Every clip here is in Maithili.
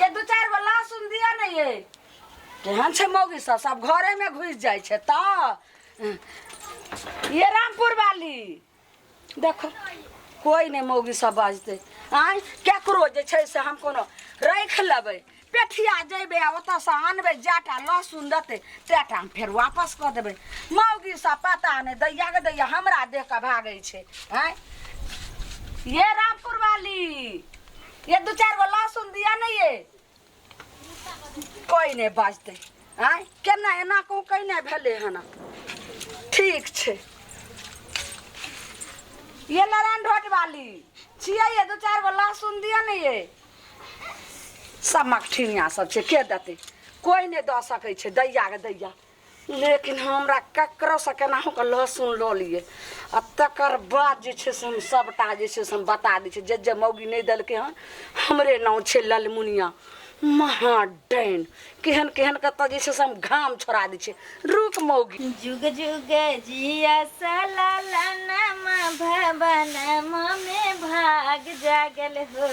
ये दू चार गो लहसुन दिया ने ये केहन छै मौगी सब सब घरे में घुस जाय छै त ये रामपुर वाली देखो कोई नहीं मौगी सब बाजते आय केकरो जे छै से हम कोनो रख लेबै पेठिया जेबै आ ओतऽ से आनबै जाटा लहसुन देतै तेटा हम फेर वापस कऽ देबै मौगी सब पता नहि दैया के दैया हमरा देख कऽ भागै छै आय ये रामपुर वाली ये दू चार गो लहसुन दिया नहीं ये कोई नहीं बाजते आय केना एना कहूँ कहीं नहीं भेले हना ठीक छे ये नारायण ढोट वाली छिया ये दू चार गो लहसुन दिया नहीं ये सब मकठिनिया सब छे के देते कोई नहीं दऽ सकै छे दैया के दैया लेकिन हमरा ककरोसँ केनाहुके लहसुन लऽ लियै आ तकर बाद जे छै से हम सभटा जे छै से हम बता दै छियै जे जे मौगी नहि देलकै हन हमरे नाम छै ललमुनिया महा डाइन केहन केहन कतऽ जे छै से हम घाम छोड़ा दै छियै रुक मौगी जुग जुग जिया सललनमा भवनमा में भाग जागल हो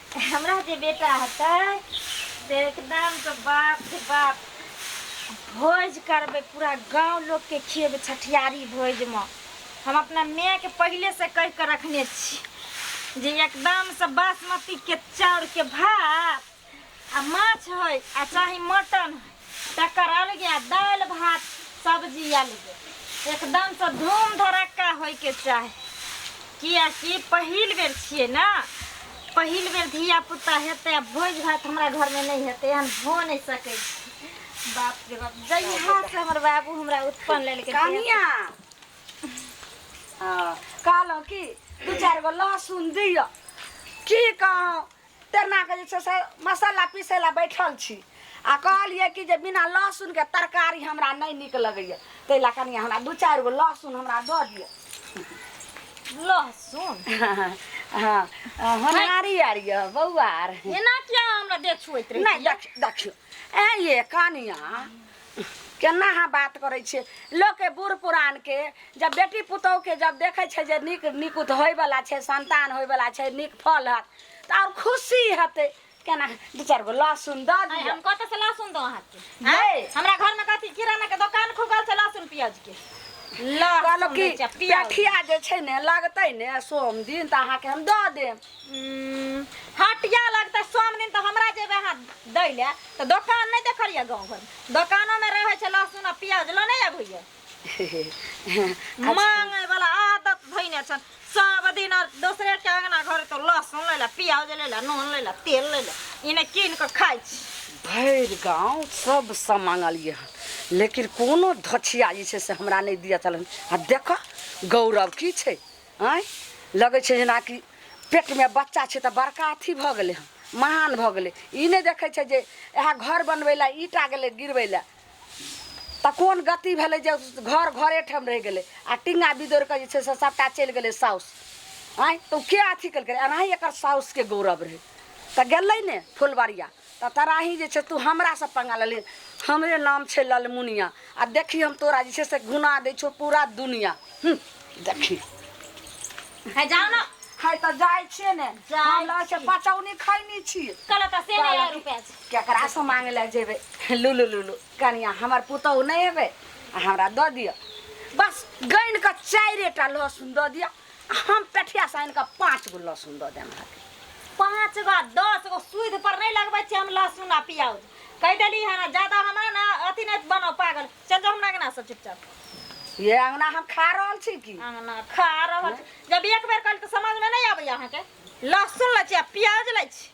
हमरा जे बेटा हेतै से एकदम से बाप रे बाप भोज करबै पूरा गांव लोग के खिएबै छठियारी भोज में हम अपना माय के पहले से कह के रखने छी जे एकदम से बासमती के चाउर के भात आ माछ है आ चाहे मटन है तकर अलगे आ दालि भात सब्जी अलगे एकदमसँ धूम धड़क्का होइके चाही किएकि पहिल बेर छियै ने पहिल बेर धियापुता हेतै आ भोज भात हमरा घरमे नहि हेतै एहन भऽ नहि सकै छै बाप रे बाप जहियासँ हमर बाबू हमरा उत्पन्न लेलकै कनिया हँ, कहलहुँ कि दू चारि गो लहसुन दिअ की कहौं टेरनाके जे छै से मसाला पीसै लए बैठल छी आ कहलियै कि जे बिना लहसुनके तरकारी हमरा नहि नीक लगैए ताहि लए कनि हमरा दू चारि गो लहसुन हमरा दऽ दिअ लहसुन हँ होनहारी आर यऽ बौआ आर एना किया हमरा देख छुएत रही नहि देख देखियौ ए ये कनिया केना अहाँ बात करै छियै लोकके बूढ़ पुरानके जब बेटी पुतोहके जब देखै छै जे नीक नीक उत होइवला छै संतान होइवला छै नीक फल हत तऽ आओर खुशी हेतै केना दू चारि गो लहसुन दऽ आइ दियौ हम कतऽ से लहसुन दो अहाँके आँय? आँय? हमरा घर में कथी किराना के दुकान खुगल छै लहसुन प्याज के कहलहुँ लहसुन कि बेचब, प्याज पेठिया जे छै ने लगतै ने सोम दिन तऽ अहाँके हम दऽ देब हटिया लगतै सोम दिन तऽ हमरा जेबै अहाँ दै लए तऽ दोकान नहि देखलियै गाँव घर दोकानोमे रहै छै लहसुन आ प्याज लऽ नहि अबैया मांगे वाला आदत धैने छन सब दिन आर दोसरे के अंगना घर तो लहसुन ले ला प्याज ले ला नून ले ला तेल ले ला इने कीन के खाइ छी भरि गाँव सब सब मांगलियै हन लेकिन कोनो धछिया जे छै से हमरा नहि दिअ चलन आ देखऽ गौरव की छै आँय लगै छै जेनाकि पेटमे बच्चा छै तऽ बड़का अथी भऽ गेलै हँ महान भऽ गेलै ई नहि देखै छै जे इएह घर बनबै लए ईटा गेलै गिरबै लए तऽ कोन गति भेलै जे घर घरे ठाम रहि गेलै आ टिंगा बिदोरि कऽ जे छै से सभटा चलि गेलै साउस आँय तऽ ओ के अथी केलकै एनाही एकर साउसके गौरव रहै तऽ गेलै ने फुलबरिया तऽ तराही जे छै तू हमरासँ पंगा लऽ ले हमरे नाम छै ललमुनिया आ देखी हम तोरा जे छै से घुना दै छौ पूरा दुनिया हूँ, देखी है जाओ ना है तऽ जाइ छियै ने जाइ हम लऽ छै बचौनी खैनी छी कल का से नहीं है रुपया से केकरा से मांगे लए जेबै लुलु लुलु कनिया हमर पुतहु नहि हेबै आ हमरा दऽ दिअ बस गानि कऽ चारिए टा लहसुन दऽ दिअ हम पेठिया से आनि कऽ पाँच गो लहसुन दऽ देम अहाँके पाँच गो आ दस गो सूद पर नहीं लगबै छी हम लहसुन आ प्याज कहि देली है ना ज्यादा हमरा ना अथी नहीं बनाओ पागल चल जाओ हमरा अंगना से चुपचाप ये अंगना हम खा रहल छी की अंगना खा रहल छी। जब एक बेर कल तो समझ में नहीं आबैया अहाँके लहसुन लै छी आ प्याज लै छी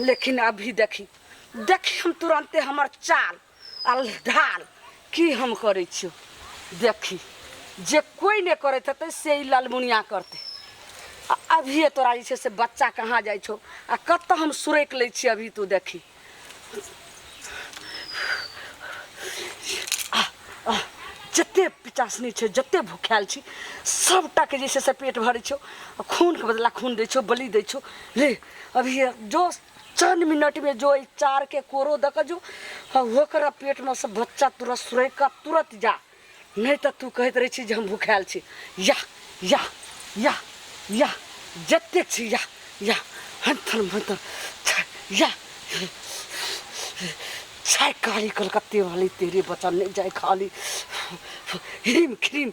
लेकिन अभी देखी देखी हम तुरंते हमर चाल अल ढाल की हम करे छियो देखी जे कोई ने करे थे से ही ललमुनिया करते अभी तोरा जे से बच्चा कहाँ जाए छो आ कत हम सुरक ले छी अभी तू देखी जते पिचासनी छै जते भुखायल छी सबटाके जे छै से पेट भरै छौ खूनके बदला खून दै छौ बलि दै छौ ले अब ये जो चंद मिनट में जो ई चार के कोरो दक जो आ ओकरा पेट में से बच्चा तुरंत सुरैक का तुरंत जा नहीं तो तू कहत रही छी जे हम भूखायल छी या या या या जतेक छी या या हंथन मंथन छा- या छाय काली कलकत्ते वाली तेरे बचन नहीं जाए खाली हिम खिम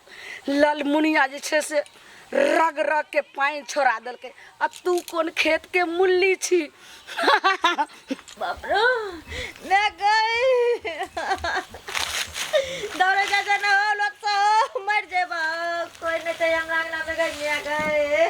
ललमुनिया जे छै से रग रग के पानि छोड़ा देलकै आ तू कोन खेत के मुल्ली छी बाप रे मैं गई दौड़े जा जा ना हो लोग तो मर जेबा कोई नहीं चाहिए हमरा अंगना में गई मैं गई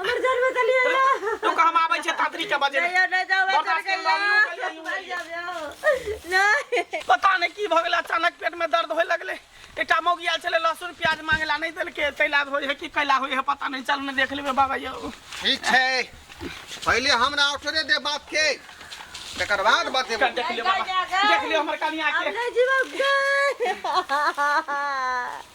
हमर जान बचा लिया तू कह हम आबै छै तातरी के बजे नहीं नहीं जाओ मैं बर्दाश्त चल कर लो, हम निकल गई गई, हूँ। जाओ नहीं पता नहीं की भऽ गेलै अचानक पेट में दर्द होय लगले एकटा मौगी आयल छलै लहसुन प्याज मांगेला नहीं देलके तैला होय है कि कैला होय है पता नहीं चल में देख लेबे बाबा यौ ठीक छै पहिले हमरा अवसरे दे बात के तकर बाद बतेबो कर देख लियो बाबा देख लियो हमर कनिया हम के नहीं जीवा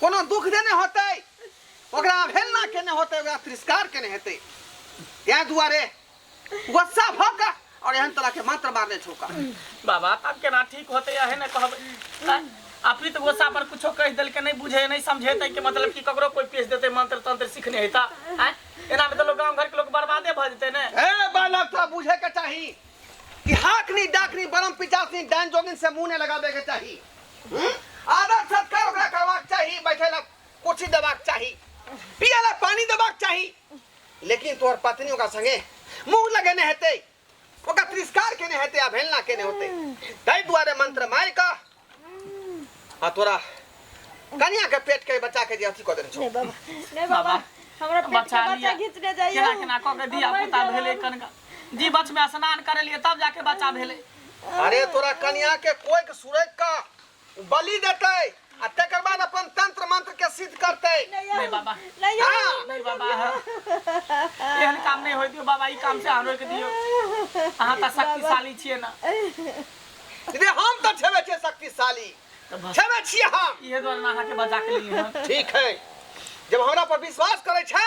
कोनो दुख देने होतै ओकरा अवहेलना केने होतै ओकरा तिरस्कार केने हेतै इएह दुआरे गुस्सा भऽ कऽ आओर एहन तरहके मंत्र मारने छौका बाबा तब केना ठीक होतै अहे ने कहबै आँय? अपित गोसा पर कुछो कहि देलकै नहि बुझे नहि समझे तै के मतलब कि ककरो कोई पेश देतै मंत्र तंत्र सीखने हेता आँय? एना में तो लोग गांव घर के लोग बर्बादे भऽ जेतै ने ए बालक तोरा बुझे के चाही कि हाकनी डाकनी बरम पिचासनी डान जोगिन से मुंह ने लगाबे के चाही हम्म? आदर सत्कार ओकरा करबाक चाही बैठे ला कुर्सी देबाक चाही पिए ला पानी देबाक चाही लेकिन तोहर पत्नी ओकरा संगे मुंह लगेने हेतै ओकरा तिरस्कार केने हेतै अवहेलना केने होतै ताहि दुआरे मंत्र मारि कऽ आ तोरा कनिया के पेट के बच्चा के जे अथी कऽ देने छौ नहीं बाबा नहीं बाबा बाबा, हमरा पेट बचा के बच्चा लिया। घींचने जाइए केना केना कऽ के धिया पुता भेलै कनका जीवछ में स्नान करेलिए तब जाके बच्चा भेले अरे तोरा कन्या के कोई के सुरक का बलि देते आ तकर बाद अपन तंत्र मंत्र के सिद्ध करते नहीं बाबा नहीं हाँ। नहीं बाबा एहन काम नहीं होय दियो बाबा ई काम से अहाँ रोक दियो अहाँ त शक्तिशाली छिए ना रे हम तो छेबे छे शक्तिशाली त बस छेबे छिए हम इहे द्वारा अहाँ के बचा के लिए हम ठीक है जब हमरा पर विश्वास करे छे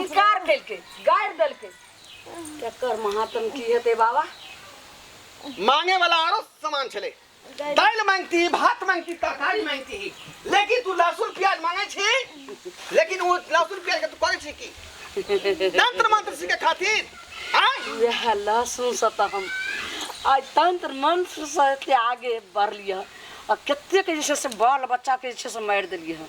इनकार केलकै गाड़ि देलकै केकर महात्म की हेतै बाबा मांगे वाला आरो सामान छले दाल मांगती भात मांगती तरकारी मांगती ही लेकिन तू लहसुन प्याज मांगे छी लेकिन वो लहसुन प्याज के तू करे छी की तंत्र मंत्र सीखे खातिर आय वह लहसुन से तो हम आज तंत्र मंत्र से एते आगे बढ़लिए आ कतेक जे छै से बाल बच्चाके जे छै से मारि देलिए हँ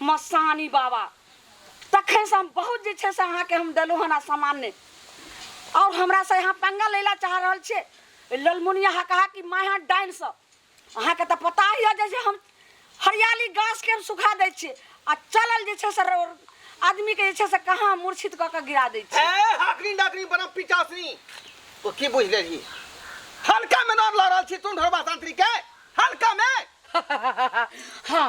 मसानी बाबा तखनसँ हम बहुत जे छै से अहाँके हम देलहुँ हन सामान्य आओर हमरासँ अहाँ पंगा लै लए चाह रहल छियै ललमुनिया अहाँ कहा कि माय अहाँ डाइनसँ अहाँके तऽ पता ही है जे हम हरियाली गाछके हम सुखा दै छियै आ चलल जे छै से आदमीके जे छै से कहाँ मूर्छित कऽ कऽ गिरा दै छियै ए हाकनी डाकनी बना पिचासनी तो की बुझ लेलही हल्का में नाम लऽ रहल छी तू ढोरबा तांत्रिक के हल्का में हाँ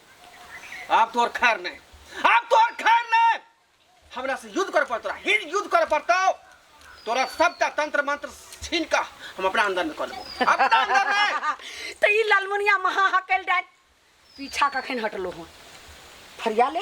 आब तोहर खैर नहीं आब तोहर खैर नहीं हमरा से युद्ध कर पड़तो हिर युद्ध कर पड़तो तोरा सबटा तंत्र मंत्र छीन का हम अपना अंदर में कर लेबो अपना अंदर में तो ई लालमुनिया महा हकल डाल पीछा कखन हटलो हूँ फरिया ले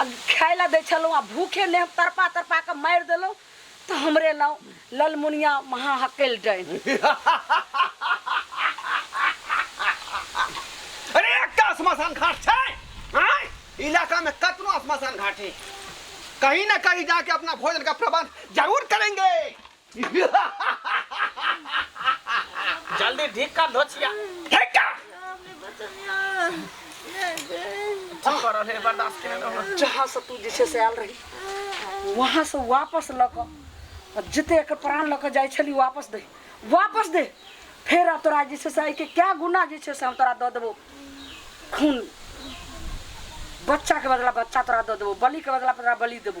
आ खाय लए दै छलहुँ आ भूखे नेह तड़पा तड़पा कऽ मारि देलहुँ तऽ हमरे नाम ललमुनिया महाहकैल डाइन अरे एकटा श्मशान घाट छै आँय? इलाका में कतनो श्मशान घाट है कहीं ना कहीं जाके अपना भोजन का प्रबंध जरूर करेंगे जल्दी ढीक कर धो छिया हेटा की कर रहे बर्दाश्त करे ना जहाँ से तू जैसे से आयल रही वहाँ से वापस लऽ कऽ आ जते एकर प्राण लऽ कऽ जाइ छली वापस दे वापस दे फेर आब तोरा जैसे से आइके क्या गुना जे छै से हम तोरा दऽ देबो खून बच्चाके बदला बच्चा तोरा दऽ देबो बलिके बदला तोरा बलि देबो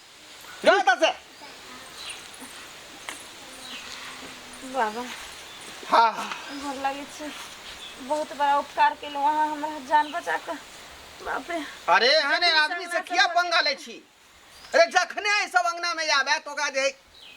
যাও তাছে बाबा हा गोर लागै छी बहुत बड़ा उपकार केलहुँ अहाँ हमरा जान बचा कऽ बाप रे अरे एहन आदमी से किया पंगा ले छी अरे जखने एहि सब अंगना में आबे तो ओकरा जे है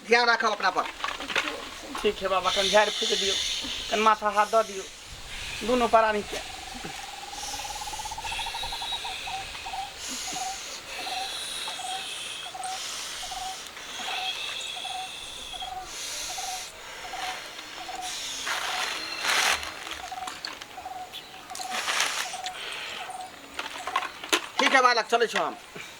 ध्यान राखब अपना पर ठीक है बाबा कन झाड़ फूक दियो कन माथा हाथ दऽ दियो दोनों प्राणी के ठीक है बालक चले छो हम